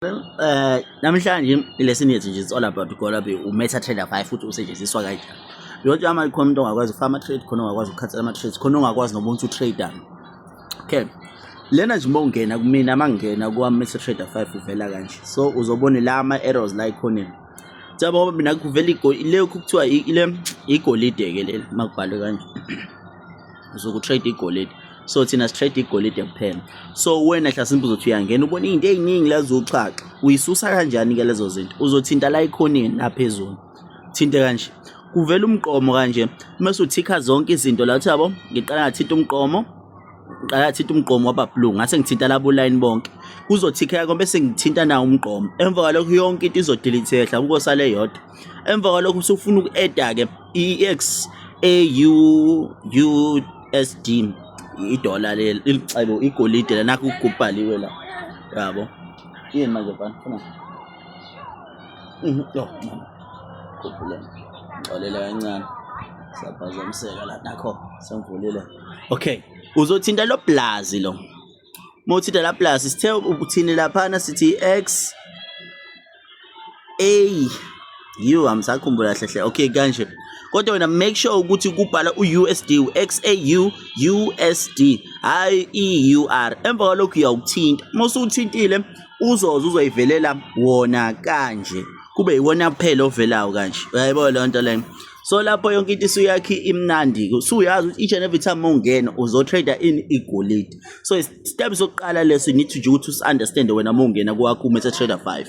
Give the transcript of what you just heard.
Eh namhlanje lesson yethu nje it's all about gola be u meta trader 5 futhi usetshenziswa kanjani. Yonke ama ikhona umuntu ongakwazi farmer trade khona ongakwazi ukukhathela ama trades khona ongakwazi nobuntu trader. Okay. Lena nje uma ungena kumina mangena kwa meta trader 5 uvela kanje. So uzobona la ama errors la ikhona. Siyabo ngoba mina kuvela igoli le kuthiwa ile igolide ke leli makubhalwe kanje. uzoku trade igolide so thina si trade igolide kuphela so wena hlasimbe uzothi uyangena ubona izinto eziningi lezo uxhaxa uyisusa kanjani ke lezo zinto uzothinta la ikhonini la phezulu thinte kanje kuvela umqomo kanje mase uthikha zonke izinto la uthi yabo ngiqala ngathinta umqomo ngiqala ngathinta umqomo waba blue ngase ngithinta labo line bonke kuzothikha konke bese ngithinta nawo umqomo emva kwalokho yonke into izodelete ehla kukosale yodwa emva kwalokho usufuna uku-eda-ke i-ex AUUSD idola leli ilicebo igolide la nakho kubhaliwe la yabo yini manje bani funa mhm yo mama khuphuleni ngixolela kancane saphazamiseka la nakho sangivulile okay uzothinta lo blazi lo uma uthinta la plus sithe uthini laphana sithi x a u angisakhumbula kahle hle okay kanje kodwa wena make sure ukuthi kubhala u-usd u-xau usd hhayi i-ur emva kwalokhu uyawuthinta uma usuwuthintile uzoze uzoyivelela wona kanje kube yiwona kuphela ovelayo kanje uyayibona leyo nto leyo so lapho yonke into isuyakhi imnandi usuyazi ukuthi each and every time ungena uzotrader in igolide so step sokuqala leso you need to nje ukuthi usi-understande wena uma ungena kwakho uma ese-trader five